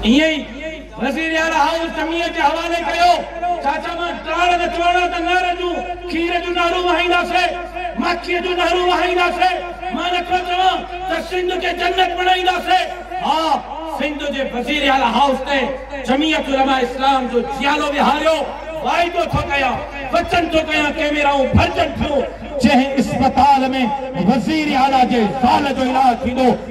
ائين ئي وزيراعليٰ هائوس سميع جي حوالي ڪيو، چاچا مان ٽاڻ نه چواڻا ته نهر جون کير جون نهرون وهائينداسي، ماکيء جون نهرون وهائينداسي، مان نٿو چوان ته سنڌ کي جنت بڻائينداسي، ها سنڌ جي وزيراعليٰ هائوس تي جميعت علماء اسلام جو جيالو ويهاريو، واعدو ٿو ڪيان، وچن ٿو ڪيان ڪيميرائون ڀرجن ٿيون، جنهن اسپتال ۾ وزيراعليٰ جي زال جو علاج ٿيندو،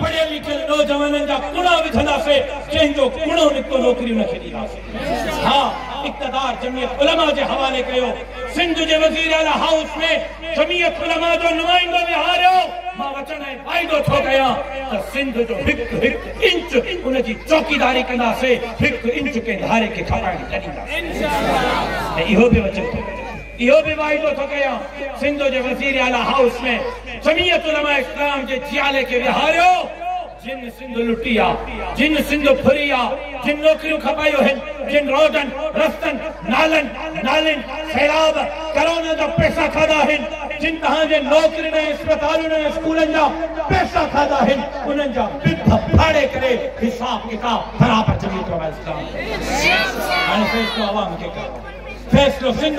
پڙهيل لکيل نوجوانن جا ڪوڙا وجهنداسي جنهن جو ڪوڙو نڪتو نوڪري ان کي ڏينداسي ها اقتدار جميعت علماء جي حوالي ڪيو سنڌ جي وزير اعليٰ هائوس ۾ جميعت علماء جو نمائندو ويهاريو مان وچن ۽ واعدو ٿو ڪيان ته سنڌ جو هڪ هڪ انچ ان جي چوڪيداري ڪنداسي هڪ انچ ڪنهن ڌاري کي کپائڻ نه ڏينداسي ۽ اهو به وچن ٿو ڪيان اهو به واعدو ٿو ڪريان سنڌ جي وزير اعليٰ هائوس ۾ جمعيت علماء اسلام جي جيالي کي ويهاريو جن سنڌ لٽي آ جن سنڌ ڦري آ جن نوڪريون کپايو هن جن روڊن رستن نالن نالين سيلاب ڪرونا جا پئسا کاڌا هن جن تهان جي نوڪرين ۽ اسپتالن ۽ اسڪولن جا پئسا کاڌا هن انهن جا پپ ڦاڙي ڪري حساب ڪتاب برابر جمعيت علماء اسلام هاڻي فيصلو عوام کي ڪرڻو فيصلو سنڌ